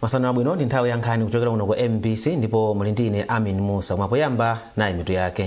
masana abwino ndi nthawi ya nkhani kuchokera kuno ku mbc ndipo muli ndi ine amin musa mwapoyamba nayi mitu yake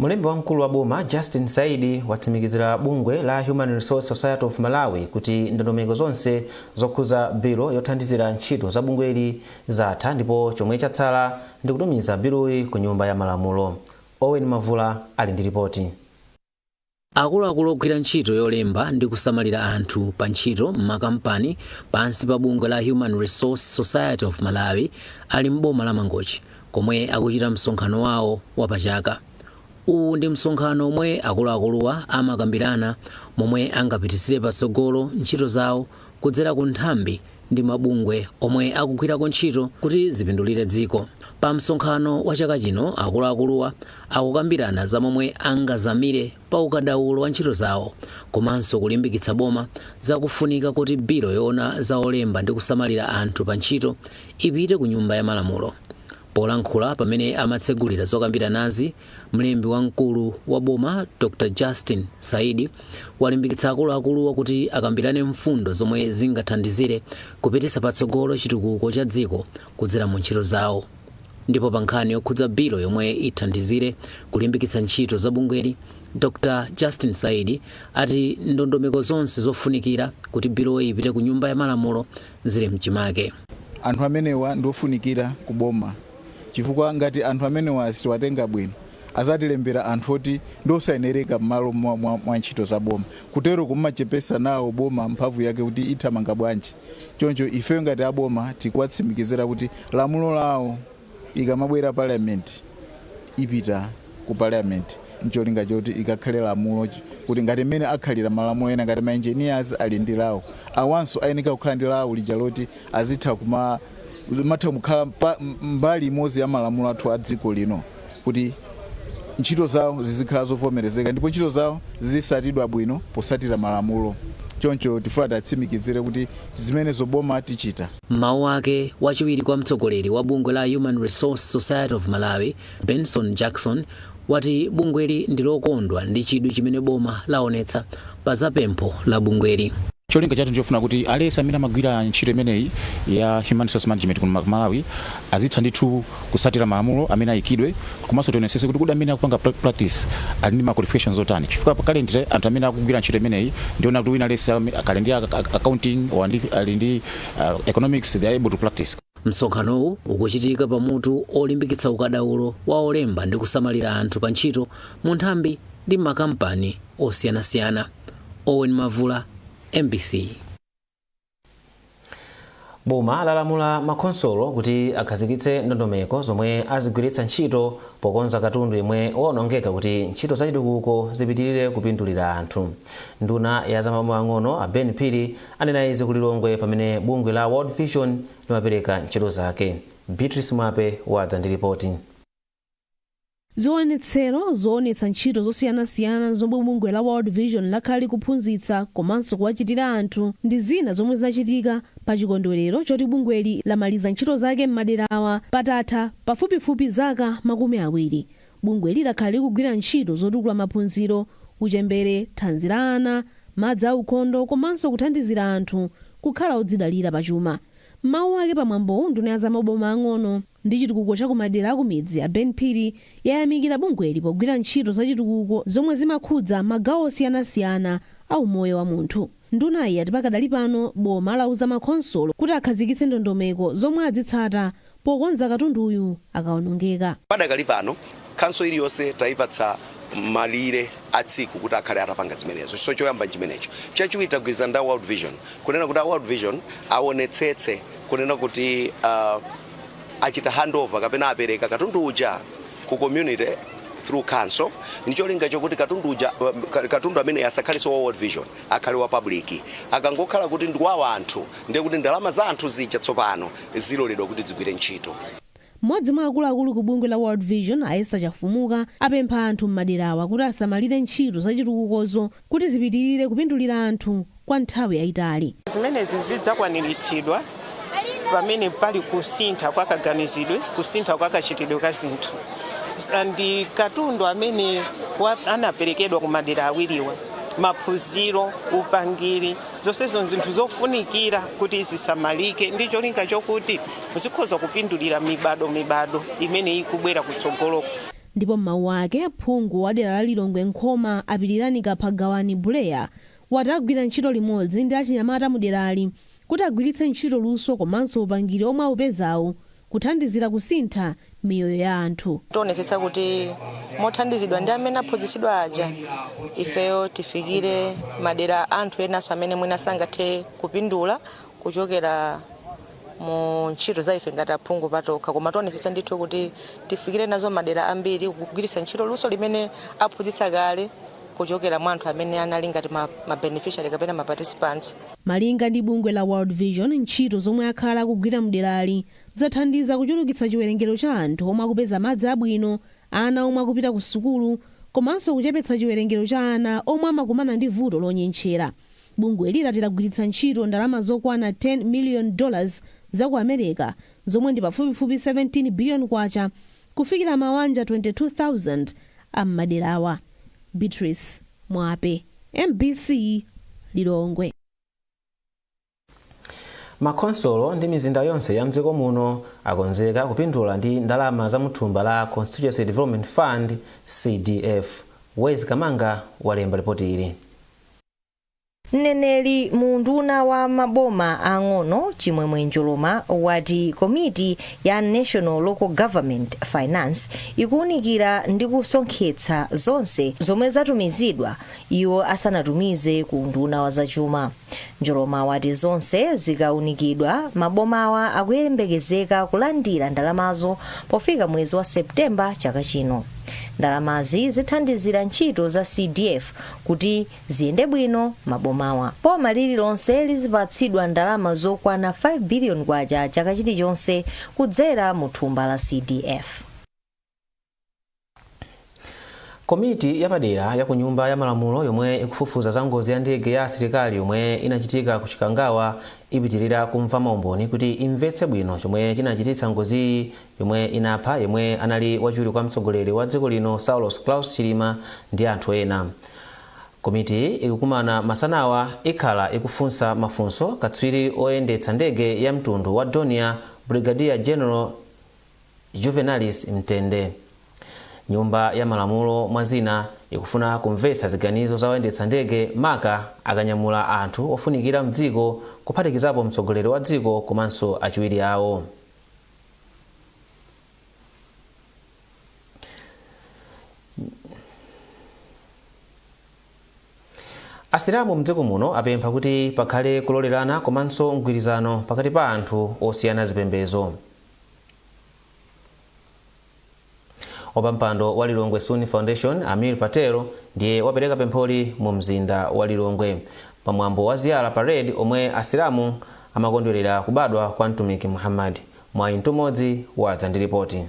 Mlembi wamkulu wa boma Justin Saidi watsimikizira bungwe la Human Resource Society of Malawi kuti ndondomeko zonse zokhuza bilo yothandizira ntchito za bungweli zatha ndipo chomwe chatsala ndikutumiza biloyi ku nyumba ya malamulo. Owen Mavula ali ndi lipoti. Akuluakulu ogwira ntchito yolemba ndi kusamalira anthu pa ntchito m'makampani pansi pa bungwe la Human Resource Society of Malawi ali m'boma la Mangochi komwe akuchita msonkhano wawo wapachaka. Uwu ndi msonkhano omwe akuluakuluwa amakambirana momwe angapititsire patsogolo ntchito zawo kudzera ku nthambi ndi mabungwe omwe akugwirako ntchito kuti zipindulire dziko. Pa msonkhano wa chaka chino, akuluakuluwa akukambirana za momwe angazamire pa ukadaulo wa ntchito zawo komanso kulimbikitsa boma za kufunika kuti bilo yoona za olemba ndi kusamalira anthu pa ntchito ipite ku Nyumba ya Malamulo. Polankhula pamene amatsegulira zokambiranazi, Mlembi wamkulu wa boma Dr Justin Saidi walimbikitsa akuluakuluwa kuti akambirane mfundo zomwe zingathandizire kupititsa patsogolo chitukuko cha dziko kudzera mu ntchito zawo. Ndipo pa nkhani yokhudza bilo yomwe ithandizire kulimbikitsa ntchito za bungweli, Dr Justin Saidi ati ndondomeko zonse zofunikira kuti biloyi ipite ku Nyumba ya Malamulo zili mchimake. Anthu amenewa ndi ofunikira ku boma chifukwa ngati anthu amenewa sitiwatenga bwino adzatilembera anthu oti ndiosayenereka mmalo mwa, mwa, mwa ntchito za boma kutero kumachepesa nawo boma mphamvu yake kuti ithamanga bwanji choncho ifeyo ngati aboma tikuwatsimikizira kuti lamulo lawo ikamabwera parliament ipita ku parliament ncholinga choti ikakhale lamulo kuti ngati mmene akhalira malamulo ena ngati maengineers ali ndi lawo awanso ayeneka kukhala ndi lawo lija loti azitha kuma matha kukhala mpa- m- mbali imodzi ya malamulo athu a dziko lino kuti ntchito zawo zizikhala zovomerezeka ndipo ntchito zawo zizisatidwa bwino posatira malamulo choncho tifuna tiwatsimikizire kuti zimenezo boma tichita M'mawu ake wachiwiri kwa mtsogoleri wa bungwe la Human Resource Society of Malawi Benson Jackson wati bungweli ndi lokondwa ndi chidwi chimene boma laonetsa pa za pempho la bungweli. cholinga chathu ndichofuna kuti aliyense amene amagwira ntchito imeneyi ya human resource management kuno ku malawi azitha ndithu kutsatira malamulo amene ayikidwe komanso tionetsetse kuti kodi amene akupanga pra- practice ali ndi ma qualifications otani chifukwa pa currently anthu amene akugwira ntchito imeneyi ndiona kuti wina aliyense ame- akhale ndi ac- ac- accounting or ndi- ali ndi uh, economics they are able to practice Msonkhanowu ukuchitika pa mutu olimbikitsa ukadaulo wa olemba ndi kusamalira anthu pa ntchito mu nthambi ndi m'makampani osiyanasiyana. Owen Mavula, MBC. Boma lalamula makhonsolo kuti akhazikitse ndondomeko zomwe azigwiritsa ntchito pokonza katundu yemwe waonongeka kuti ntchito zachitukuko zipitilire kupindulira anthu. Nduna ya zamaboma ang'ono a Ben Phiri Anena izi ku Lilongwe pamene bungwe la World Vision limapereka ntchito zake. Beatrice Mwape wadza ndi lipoti. Ziwonetsero zowonetsa ntchito zosiyanasiyana zomwe bungwe la World Vision lakhala kuphunzitsa komanso kuwachitira anthu ndi zina zomwe zinachitika pa chikondwelero choti bungweli lamaliza ntchito zake m'maderawa patatha pafupifupi zaka makumi awiri. Bungweli lakhala likugwira ntchito zotukula maphunziro, uchembere, thanzi la ana, madzi a ukhondo komanso kuthandizira anthu kukhala odzidalira pa chuma. M'mawu ake pa mwambo nduna ya za maboma ang'ono ndi chitukuko cha ku madera a ku midzi a Ben Phiri yayamikira bungweli pogwira ntchito za chitukuko zomwe zimakhudza magawo osiyanasiyana a umoyo wa munthu. Ndunayi ati pakadali pano boma lauza ma khonsolo kuti akhazikitse ndondomeko zomwe adzitsata pokonza katunduyu akaonongeka. Padakali pano khanso iliyonse taipatsa malire a tsiku kuti akhale atapanga zimenezo. So choyamba nchimenecho. Chachiwiri tagwirizana ndi a World Vision kunena kuti a World Vision awonetsetse kunena kuti. achita handover kapena apereka katundu uja ku community through council ndi cholinga chokuti katundu amene uja asakhalenso wa World Vision akhale wa public akangokhala kuti ndi wa anthu ndiye kuti ndalama za anthu zija tsopano ziloledwa kuti zigwire ntchito mmodzi mwa akuluakulu ku bungwe la World Vision a Esther Chafumuka apempha anthu m'maderawa kuti asamalire ntchito zachitukukozo kuti zipitirire kupindulira anthu kwa nthawi yaitali. Zimenezi zidzakwaniritsidwa pamene pali kusintha kwa kaganizidwe, kusintha kwa kachitidwe ka zinthu, ndi katundu amene anaperekedwa ku madera awiriwa, maphunziro, upangiri, zonsezo nzinthu zofunikira kuti zisamalike ndi cholinga chokuti zikhoza kupindulira mibadwo mibadwo imene ikubwera kutsogoloku. Ndipo m'mawu ake, phungu wa dera la Lilongwe Nkhoma a Pilirani Kaphagawani Buleya wati agwira ntchito limodzi ndi achinyamata mu derali kuti agwiritse ntchito luso komanso upangiri omwe awupezawu kuthandizira kusintha miyoyo ya anthu. Tionetsetsa kuti mothandizidwa ndi amene aphunzitsidwa aja, ifeyo tifikire madera anthu enanso amene mwina sangathe kupindula kuchokera mu ntchito za ife ngati aphungu patokha, koma tionetsetsa ndithu kuti tifikire nazo madera ambiri kugwiritsa ntchito luso limene aphunzitsa kale kuchokera mwa anthu amene anali ngati ma ma beneficiary kapena ma participants. Malinga ndi bungwe la World Vision, ntchito zomwe akhala akugwira mderali zathandiza kuchulukitsa chiwerengero cha anthu omwe akupeza madzi abwino, ana omwe akupita ku sukulu, komanso kuchepetsa chiwerengero cha ana omwe amakumana ndi vuto lonyentchera. Bungweli lati lagwiritsa ntchito ndalama zokwana 10 miliyoni dollars za ku America zomwe ndi pafupifupi 17 biliyoni kwacha kufikira mawanja 22,000 a m'maderawa. Beatrice Mwape, MBC, Lilongwe. Makhonsolo ndi mizinda yonse ya m'dziko muno akonzeka kupindula ndi ndalama za muthumba la Constituency Development Fund, CDF. Wezi Kamanga walemba lipoti ili. Mneneri mu unduna wa maboma aang'ono, Chimwemwe Njoloma, wati komiti ya National Local Government Finance ikuunikira ndi kusonkhetsa zonse zomwe zatumizidwa iwo asanatumize ku unduna wa zachuma. Njoloma wati zonse zikaunikidwa, mabomawa akuyembekezeka kulandira ndalamazo pofika mwezi wa September chaka chino. Ndalamazi zithandizira ntchito za CDF kuti ziyende bwino m'mabomawa. Boma lililonse lizipatsidwa ndalama zokwana 5 billion kwacha chaka chilichonse kudzera mu thumba la CDF. komiti yapadera ya ku nyumba ya malamulo yomwe ikufufuza za ngozi ya ndege ya asilikali yomwe inachitika ku chikangawa ipitirira kumva maumboni kuti imvetse bwino chomwe chinachititsa ngoziyi yomwe inapha yemwe anali wachiwiri kwa mtsogoleri wa dziko lino saulos klaus chilima ndi anthu ena komitiyi ikukumana masanawa ikhala ikufunsa mafunso katswiri oyendetsa ndege ya mtundu wa dornier brigadier general Juvenalis Mtende. Nyumba ya Malamulo, mwa zina, ikufuna kumvetsa ziganizo za oyendetsa ndege maka akanyamula anthu ofunikira m'dziko kuphatikizapo mtsogoleri wa dziko komanso achiwiri awo. Asilamu mdziko muno apempha kuti pakhale kulolerana komanso mgwirizano pakati pa anthu osiyana zipembedzo. wapampando wa lilongwe sunni foundation amir patel ndiye wapereka pempholi mu mzinda wa lilongwe pamwambo wa ziyara parade omwe asilamu amakondwerera kubadwa kwa mtumiki muhammad mwayi mtumodzi wadza ndi lipotili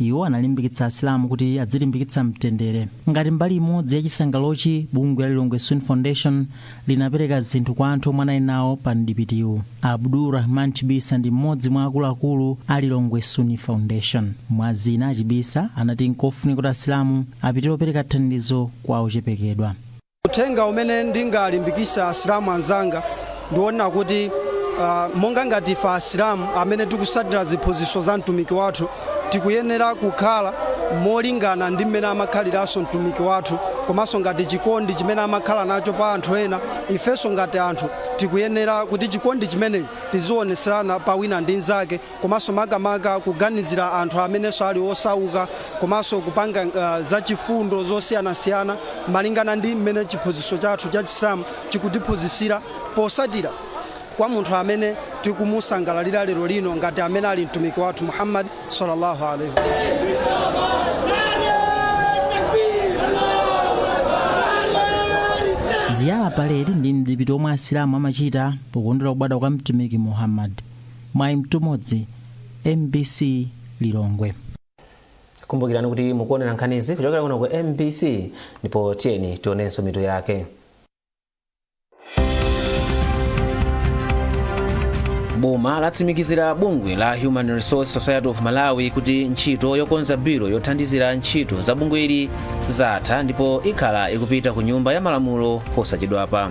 Iwo analimbikitsa Asilamu kuti adzilimbikitsa mtendere. Ngati mbali imodzi ya chisangalalochi, bungwe la Lilongwe Sunni Foundation linapereka zinthu kwa anthu omwe anali nawo pa mdipitiwu. Abdul Rahman Chibisa ndi mmodzi mwa akuluakulu a Lilongwe Sunni Foundation. Mwa zina, a Chibisa anati nkofunika kuti Asilamu apitirize kupereka thandizo kwa ochepekedwa. Uthenga umene ndingalimbikitse Asilamu anzanga ndi wonena kuti ah, monga ngati ife Asilamu amene tikutsatira ziphunzitso za Mtumiki wathu, tikuyenera kukhala molingana ndi mmene amakhaliranso Mtumiki wathu komanso ngati chikondi chimene amakhala nacho pa anthu ena, ifenso ngati anthu tikuyenera kuti chikondi chimenechi tizionetserana pa wina ndi mnzake. komanso makamaka kuganizira anthu amenenso ali osauka komanso kupanga uh, zachifundo zosiyanasiyana malingana ndi mmene chiphunzitso chathu cha chisilamu chikutiphunzitsira posatira kwa munthu amene tikumusangalalira lero lino ngati amene ali mtumiki wathu muhammad sallallahu alaihi ziyara parade ndi mdipiti omwe asilamu amachita pokondwera kubadwa kwa mtumiki muhammad Mwayi Mtumodzi, mbc Lilongwe. Kumbukirani kuti mukuonera nkhanizi kuchokera kuno ku mbc ndipo tiyeni tionenso mitu yake. boma latsimikizira bungwe la human resource society of malawi kuti ntchito yokonza bilo yothandizira ntchito za bungweli zatha ndipo ikhala ikupita ku nyumba ya malamulo posachedwapa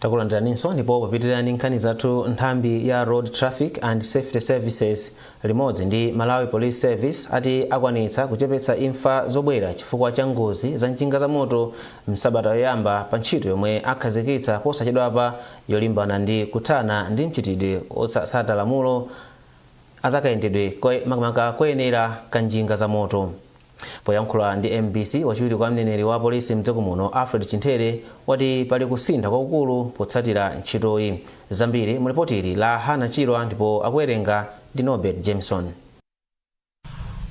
takulandiraninso ndipo popitirira ndi nkhani zathu nthambi ya road traffic and safety services limodzi ndi malawi police service ati akwanitsa kuchepetsa imfa zobwera chifukwa cha ngozi za njinga za moto msabata yoyamba pa ntchito yomwe akhazikitsa posachedwapa yolimbana ndi kuthana ndi mchitidwe osatsata malamulo azakayendedwe makamaka koyenera ka njinga za moto Poyankhula ndi mbc, wachiwiri kwa mneneri wa polisi mdziko muno Alfred Chinthere wati pali kusintha kwakukulu potsatira ntchitoyi. Zambiri mu lipoti ili la Hannah Chirwa ndipo akuwerenga ndi Norbert Jameson.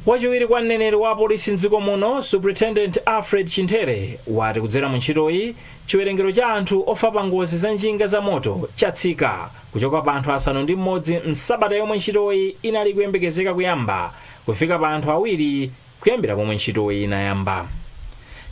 Wachiwiri kwa mneneri wa polisi mdziko muno Superintendent Alfred Chimthere wati kudzera mu ntchitoyi, chiwerengero cha anthu ofa pa ngozi za njinga za moto chatsika kuchoka pa anthu asanu ndi m'modzi m'sabata yomwe ntchitoyi inali ikuyembekezeka kuyamba kufika pa anthu awiri kuyambira pomwe ntchitoyi inayamba.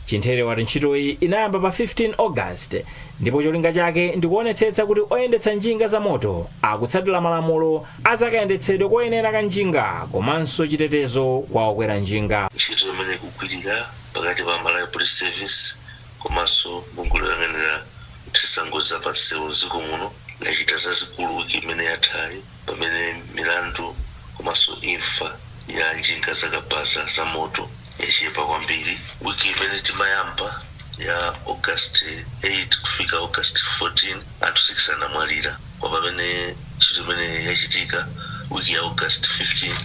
Chimthere wati ntchitoyi inayamba pa 15 August ndipo cholinga chake ndi kuonetsetsa kuti oyendetsa njinga za moto akutsatira malamulo a za kayendetsedwe koyenera ka njinga komanso chitetezo kwa okwera njinga. Ntchito imene ikugwirika pakati pa Malawi Police Service komanso bungwe loyang'anira kuthetsa ngozi za pa nsewu m'dziko muno lachita zazikulu week imene yathayi. pamene milandu komanso imfa ya njinga zakabaza zamoto yachepa kwambiri. Wiki imene timayamba ya August 8 kufika August 14, anthu 6 anamwalira. Koma pamene ntchito imeneyi yachitika wiki ya August 15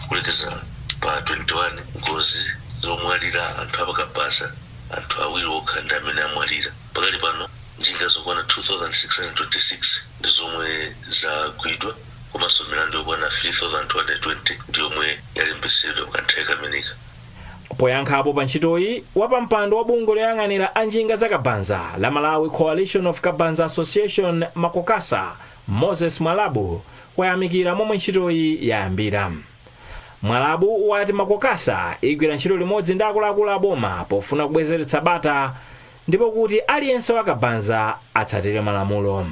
kulekeza pa 21, ngozi zomwalira anthu apakabaza, anthu awiri okha ndi amene amwalira. Pakali pano njinga zokwana 2,626. ndi zomwe zagwidwa komanso milandu yokwana 3,220 ndi yomwe yalembetsedwa mukanthawi kameneka. Poyankhapo pa ntchitoyi, wapampando wa bungwe loyang'anira a njinga za kabanza la Malawi Coalition of Kabanza Association, Macokasa, Moses Mwalabu wayamikira momwe ntchitoyi yayambira. Mwalabu wati Macokasa igwira ntchito limodzi ndi akuluakulu a boma pofuna kubwezeretsa bata, ndipo kuti aliyense wa Kabanza atsatire malamulo.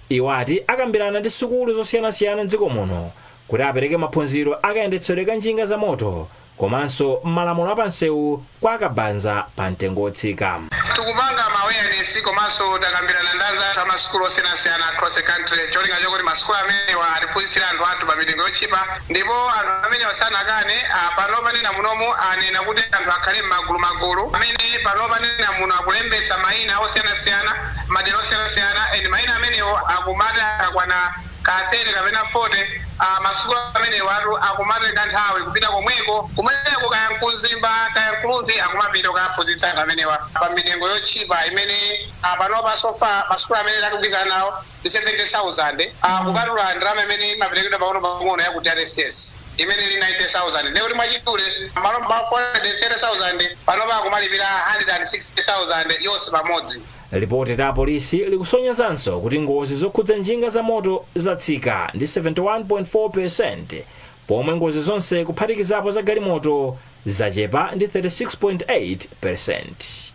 Iwo ati akambirana ndi sukulu zosiyanasiyana m'dziko muno kuti apereke maphunziro a kayendetsedwe ka njinga za moto komanso malamulo a pa nsewu kwa a Kabanza pa mtengo wotsika. Tikupanga ma awareness komanso takambirana ndi anzathu a ma sukulu osiyanasiyana across the country n'cholinga chokuti ma sukulu amenewa atiphunzitsire anthu athu pa mitengo yotchipa, Ndipo anthu amenewa sanakane, a, panopa nena munomu anena kuti anthu akhale mmagulu magulu, amene panopa nena muno akulembetsa maina osiyanasiyana mmadera osiyanasiyana, and maina amenewo akumati akakwana ka 30 kapena 40, a, masukulu amenewatu akumatenga nthawi kupita komweko, kumeneko kaya n'ku Mzimba kaya n'ku Rumphi akumapita kukaphunzitsa anthu amenewa pa mitengo yotchipa imene, a, panopa so far masukulu amene takugwirizana nawo 70,000 a kupatula ndalama imene imaperekedwa pang'onopang'ono ya ku DRTSS imene ili 90,000 ndiye kuti mwachidule m'malo mwa 430,000 panopa akumalipira 160,000 yonse pamodzi. Lipoti la apolisi likusonyezanso kuti ngozi zokhudza njinga zamoto zatsika ndi 71.4 peresenti pomwe ngozi zonse kuphatikizapo za galimoto zachepa ndi 36.8 peresenti.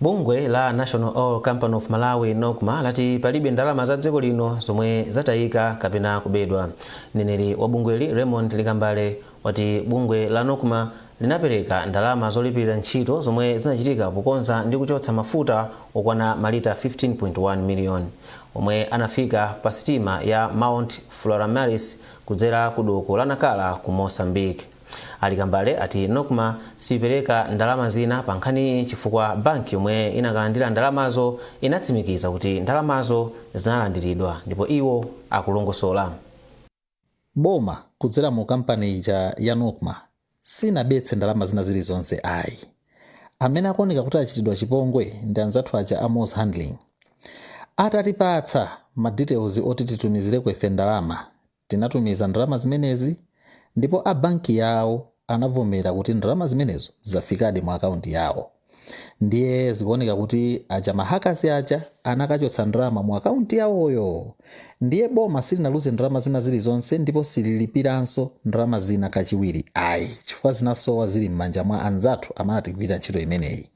Bungwe la National Oil Company of Malawi NOCMA lati palibe ndalama za dziko lino zomwe zatayika kapena kubedwa. Mneneri wa bungweli Raymond Likambale wati bungwe la NOCMA linapereka ndalama zolipirira ntchito zomwe zinachitika pokonza ndi kuchotsa mafuta okwana malita 15.1 miliyoni omwe anafika pa sitima ya Mount Floramaris kudzera ku doko la Nacala ku Mozambique. A Likambale ati Nocma siyipereka ndalama zina pa nkhani chifukwa banki yomwe inakalandira ndalamazo inatsimikiza kuti ndalamazo zinalandiridwa ndipo iwo akulongosola. Boma kudzera mu kampani ija ya Nocma sinabetse ndalama zina zilizonse ayi. Amene akuoneka kuti achitidwa chipongwe ndi anzathu aja a Moz Handling. Atatipatsa ma details oti titumizireko ife ndalama Tinatumiza ndalama zimenezi ndipo a banki yawo anavomera kuti ndalama zimenezo zafikadi mu akaunti yawo. Ndiye zikuoneka kuti aja ma hackers aja anakachotsa ndalama mu akaunti yawoyo. Ndiye boma silinaluze ndalama zina zilizonse ndipo sililipiranso ndalama zina kachiwiri ayi chifukwa zinasowa zili m'manja mwa anzathu amene anatigwirira ntchito imeneyi.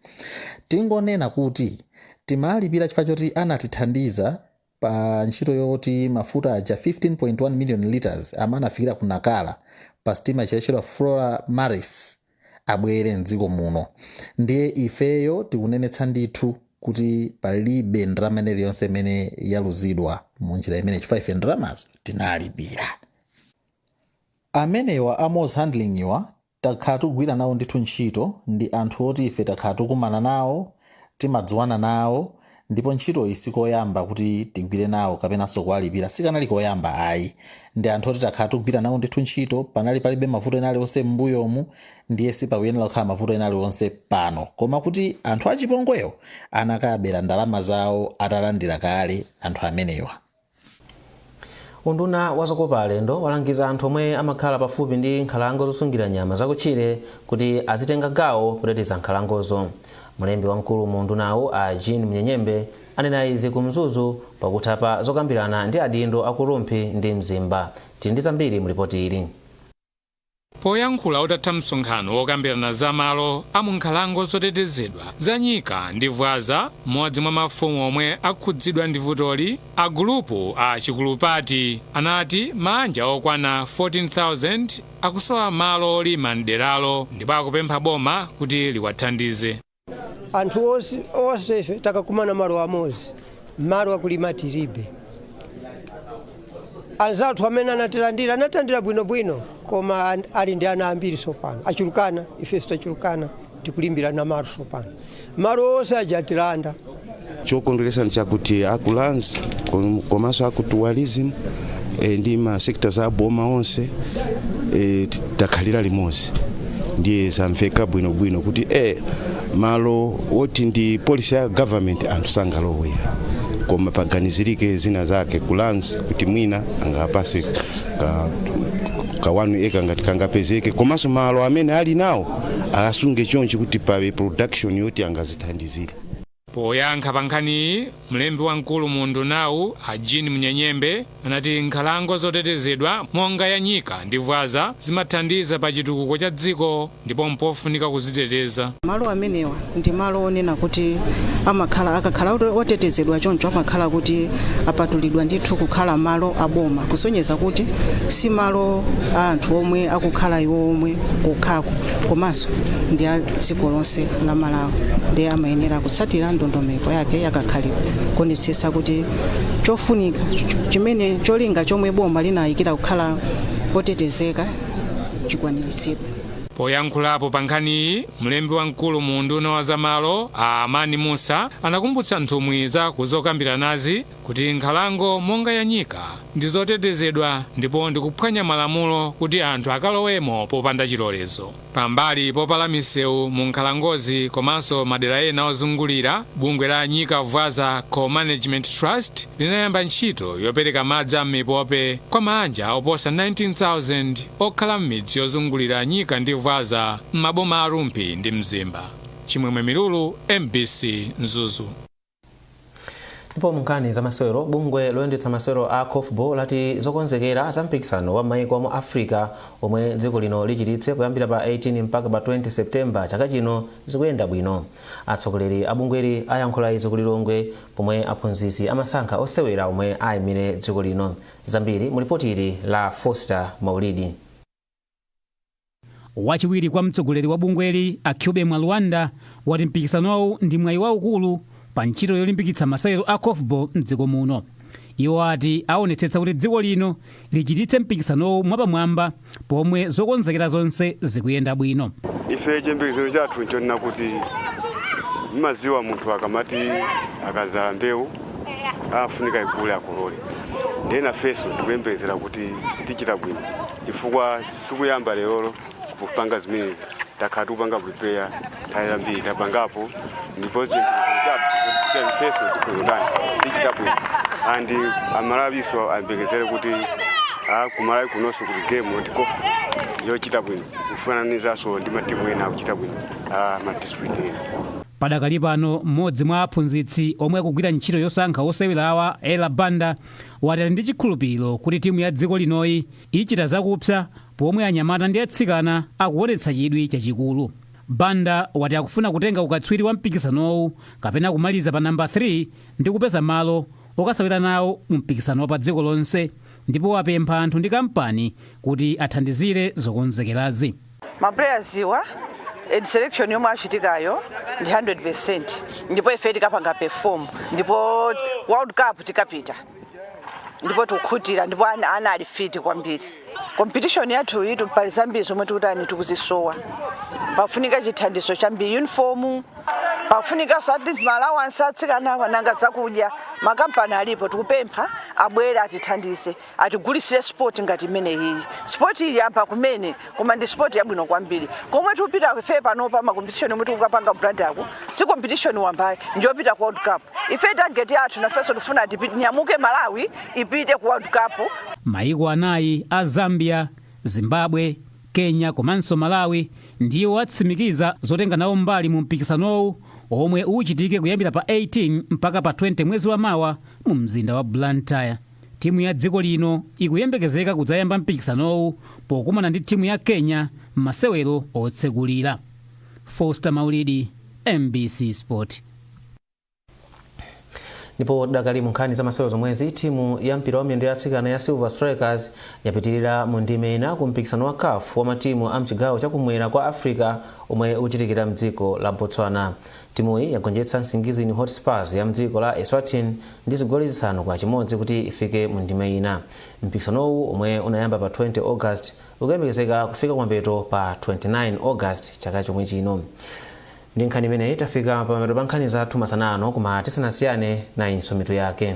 Tingonena kuti timalipira chifukwa choti anatithandiza. pa ntchito yoti mafuta aja 15.1 million litres amene anafikira ku Nacala pa sitima ija yotchedwa Flora Maris abwere m'dziko muno. Ndiye ifeyo tikunenetsa ndithu kuti palibe ndalama ina iliyonse imene yaluzidwa mu njira imeneyi chifukwa ife ndalamazo tinalipira. Amenewa a Moz Handling'wa Takhala tikugwira nawo ndithu ntchito ndi anthu oti ife takhala tikukumana nawo, timadziwana nawo ndipo ntchitoyi si koyamba kuti tigwire nawo kapenanso kuwalipira sikanali koyamba ayi. Ndi anthu oti takhala tikugwira nawo ndithu ntchito, panali palibe mavuto ena aliwonse m'mbuyomu ndiye sipakuyenera kukhala mavuto ena aliwonse pano. Koma kuti anthu achipongwewo anakabera ndalama zawo atalandira kale anthu amenewa. Unduna wa zokopa alendo walangiza anthu omwe amakhala pafupi ndi nkhalango zosungira nyama zakutchire kuti azitenga gawo poteteza nkhalangozo. Mlembi wamkulu mu undunawu a Jean Munyenyembe anena izi ku Mzuzu pakutha pa zokambirana ndi adindo aku Rumphi ndi Mzimba. Tili ndi zambiri mu lipoti ili. Poyankhula utatha msonkhano wokambirana za malo a mu nkhalango zotetezedwa za Nyika ndi Vwaza, m'modzi mwa mafumu omwe akhudzidwa ndi vutoli, a gulupu a Chikulupati anati maanja okwana 14,000 akusowa malo olima m'deralo ndipo akupempha boma kuti liwathandize. anthu onse onse ife takakumana malo amodzi malo akulima tiribe anzathu amene anatilandira anatilandira bwinobwino koma ali ndi ana ambiri sopano achulukana ifenso tachulukana tikulimbirana malo sopano malo onse aja atilanda chokondweretsa nchakuti aku lands kom- komanso aku tourism eh, ndi ma sectors a boma onse eh, t- takhalira limodzi ndiye zamveka bwinobwino kuti eh, malo woti ndi policy ya government anthu sangalowe koma paganizirike zina zake ku lands kuti mwina angapase ka, ka 1 acre ngati kangapezeke komanso malo amene ali nawo asunge chonchi kuti pakhale production yoti angazithandizire Poyankha pa nkhaniyi, mlembi wamkulu mu undunawu, a Jean Munyenyembe, anati nkhalango zotetezedwa monga ya Nyika ndi Vwaza zimathandiza pa chitukuko cha dziko ndipo mpofunika kuziteteza. Malo amenewa ndi malo onena kuti amakhala, akakhala otetezedwa choncho amakhala kuti apatulidwa ndithu kukhala malo a boma kusonyeza kuti si malo a anthu omwe akukhala iwo omwe kokhako komanso ndi a. dziko lonse la malawi ndiye amayenera kutsatira ndondomeko yake yakakhalidwe kuonetsetsa kuti chofunika chimene cholinga chomwe boma linayikira kukhala otetezeka chikwaniritsidwe poyankhulapo pa nkhaniyi mlembi wamkulu mu unduna wa zamalo a amani musa anakumbutsa nthumwi za kuzokambiranazi kuti nkhalango monga ya nyika ndi zotetezedwa ndipo ndikuphwanya malamulo kuti anthu akalowemo popanda chilolezo Pambali polambula misewu mu nkhalangozi komanso madera ena ozungulira, bungwe la Nyika Vwaza Co-Management Trust linayamba ntchito yopereka madzi a m'mipope kwa maanja oposa 19,000 okhala m'midzi yozungulira Nyika ndi Vwaza m'maboma a Rumphi ndi Mzimba. Chimwemwe Milulu, mbc, Mzuzu. ndipo munkhani za masewero bungwe loyendetsa masewero a korfball lati zokonzekera za mpikisano wa maiko mu africa omwe dziko lino lichititse kuyambira pa 18 mpaka pa 20 septemba chaka chino zikuyenda bwino atsogoleri a bungweli ayankhula izi ku lilongwe pomwe aphunzitsi amasankha osewera omwe ayimire dziko lino zambiri mulipoti ili la foster maulidi Wachiwiri kwa mtsogoleri wa bungweli, a Kyobe Mwalwanda, wati mpikisanowu ndi mwayi waukulu pa ntchito yolimbikitsa masewero a Korfball m'dziko muno. Iwo ati awonetsetsa kuti dziko lino lichititse mpikisanowu mwapamwamba pomwe zokonzekera zonse zikuyenda bwino. Ife chiyembekezo chathu nchonena kuti mmadziwa munthu akamati akadzala mbewu. afunika ikule akolole ndiye nafenso tikuyembekezera kuti tichita bwino chifukwa sikuyamba lero kupanga zimenezi takhala tikupanga prepare nthawi yambiri tapangapo ndipo chiyembekezo chilipo kuti nafenso tikuzotani tichita bwino and amalawiso ayembekezere kuti ah, kumalawi kunonso kuli game ya korfball yochita bwino kufananizanso ndi matimu ena akuchita bwino ah, ma discipline ena Padakali pano m'modzi mwa aphunzitsi omwe akugwira ntchito yosankha osewerawa, Ella Banda, wati ali ndi chikhulupiliro kuti timu ya dziko linoyi ichita zakupsa pomwe anyamata ndi atsikana akuonetsa chidwi chachikulu. Banda wati akufuna kutenga ukatswiri wa mpikisanowu kapena kumaliza pa number 3 ndi kupeza malo okasewera nawo mu mpikisano wa pa dziko lonse ndipo wapempha anthu ndi kampani kuti athandizire zokonzekerazi. maplayers wa selection yomwe yachitikayo ndi 100% ndipo ife tikapanga perform ndipo world cup tikapita ndipo tukhutira ndipo ana ali fit kwambiri competition yathuyitu pali zambiri zomwe tikutani tikuzisowa pafunika chithandizo chambiri uniform pafunika ma allowance atsikanawa nanga zakudya makampani alipo tikupempha abwere atithandize atigulitsire sport ngati imene iyi sport iyi yamba kumene koma ndi sport yabwino kwambiri komwe tupita ife panopa makompetishoni omwe tukapanga Blantyre ko si competition wamba ayi njopita ku world cup ife target yathu nafenso tifuna tipite nyamuke malawi ipite ku world cup Maiko anayi a Zambia, Zimbabwe, Kenya komanso Malawi ndiwo atsimikiza zotenga nawo mbali mu mpikisanowu omwe uchitike kuyambira pa 18 mpaka pa 20 mwezi wa mawa mu mzinda wa Blantyre. Timu ya dziko lino ikuyembekezeka kudzayamba mpikisanowu pokumana ndi timu ya Kenya mmasewero otsekulira. Foster Maulidi, mbc Sport. Ndipo tidakali munkhani za masewero zomwezi, timu ya mpira wa miyendo ya atsikana ya Silver Strikers yapitirira mu ndime ina ku mpikisano wa caf wa matimu a mchigawo cha kumwera kwa Africa omwe uchitikira mdziko la Botswana. Timuyi yagonjetsa Nsingizini Hotspurs ya mdziko la Eswatini ndi zigoli zisanu kwa chimodzi kuti ifike mu ndime ina. Mpikisanowu omwe unayamba pa 20 August ukuyembekezeka kufika kumapeto pa 29 August chaka chomwe chino. Ndi nkhani imeneyi tafika pamapeto pa nkhani zathu masana ano koma tisanasiyane nayinso mitu yake.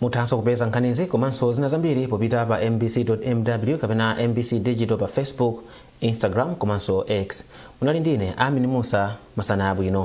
Muthanso kupeza nkhanizi komanso zina zambiri popita pa mbc.mw kapena mbc digital pa Facebook, Instagram komanso X. Munali ndi ine Amin Mussa, masana abwino.